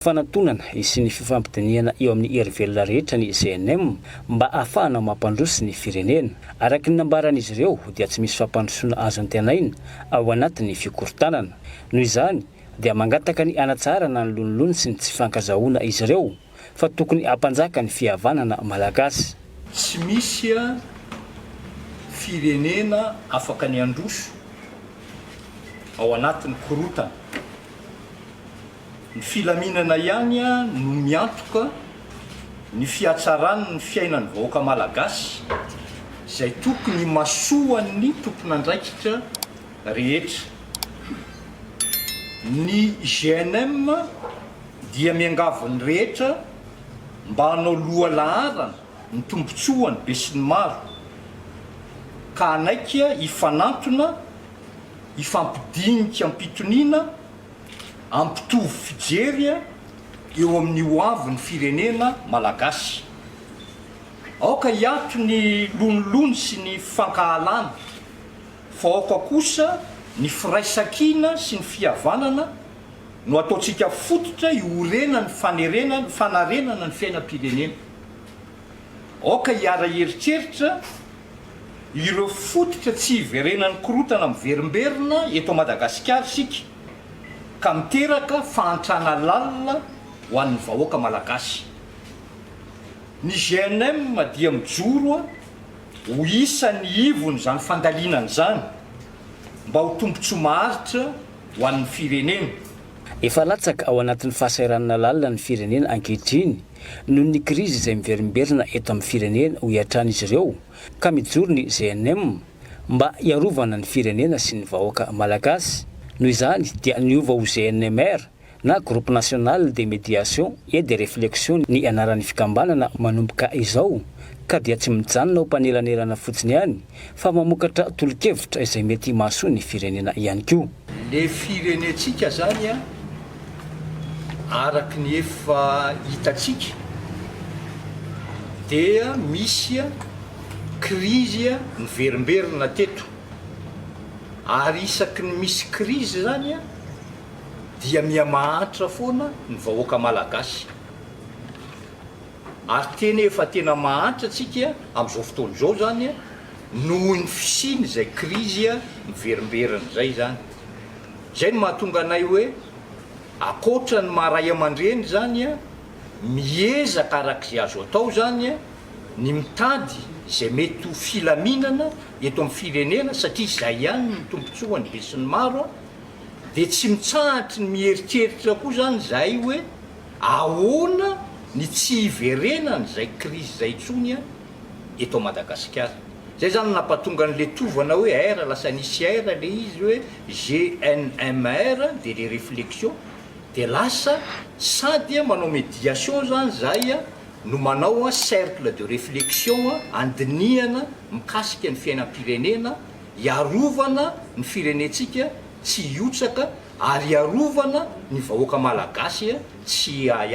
Fanantonana sy ny fifampidinihana eo amin'ny hery velona rehetra ny CNM mba ahafahana mampandroso ny firenena. Araka ny nambaran'izy ireo dia tsy misy fampandrosoana azo antenaina ao anatin'ny fikorontanana. Noho izany dia mangataka ny hanatsarana ny lonilony sy ny tsy fankazahoana izy ireo fa tokony hampanjaka ny fihavanana malagasy. Tsy misy firenena afaka ny handroso ao anatin'ny korontana. Ny filaminana ihany no miantoka ny fihatsaran' ny fiainan' ny vahoaka malagasy izay tokony himasoan' ny tomponandraikitra rehetra. Ny GNM dia miangavy ny rehetra mba hanao loha laharana ny tombontsoan' ny besinimaro ka hanaiky hifanantona, hifampidinika am-pitoniana, ampitovy fijery eo amin'ny ho avin'ny firenena Malagasy. Aoka hiato ny lonilony sy ny fankahalana, fa aoka kosa ny firaisankina sy ny fihavanana no ataontsika fototra iorenan'ny fanerena fanarenana ny fiainam-pirenena. Aoka hiara-hieritreritra. Ireo fototra tsy hiverenan'ny korontana miverimberina eto Madagasikara isika ka miteraka fahantrana lalina ho an'ny vahoaka Malagasy. Ny GNM dia mijoro ho isan'ny ivon'izany fandalinana izany mba ho tombontsoa maharitra ho an'ny firenena. Efa latsaka ao anatin'ny fahasahiranana lalina ny firenena ankehitriny noho ny krizy izay miverimberina eto amin'ny firenena, hoy hatrany izy ireo, ka mijoro ny GNM mba hiarovana ny firenena sy ny vahoaka Malagasy. Noho izany dia niova ho GNMR na Groupe National de Médiation et de Réflexion ny anaran'ny fikambanana manomboka izao, ka dia tsy mijanona ho mpanelanelana fotsiny ihany fa mamokatra tolo-kevitra izay mety mahasoa ny firenena ihany koa. Le firenentsika zany a araky ny efa hitatsika dia misy a krizy a miverimberina teto ary isaky ny misy krizy zany a dia mihamahantra foana ny vahoaka malagasy. Ary tena efa tena mahantra tsika amin'izao fotoana izao izany noho ny fisian'izay krizy miverimberina izay izany. Izay no mahatonga anay hoe ankoatra ny maha ray aman-dreny izany, miezaka arak'izay azo atao izany ny mitady izay mety ho filaminana eto amin'ny firenena satria izay ihany no tombontsoan'ny besinimaro dia tsy mitsahatry ny mieritreritra koa izany izahay hoe Ahoana ny tsy hiverenany izay krizy izay intsony an eto Madagasikara. Izay izany no nampatonga an'ilay tovana hoe R lasa nisy R ilay izy hoe GNMR dia ilay reflexion dia lasa sady an manao mediation izany izahay an no manao an cercle de reflexion an handinihana mikasika ny fiainam-pirenena hiarovana ny firenentsika tsy hiotsaka ary hiarovana ny vahoaka malagasy tsy hiahy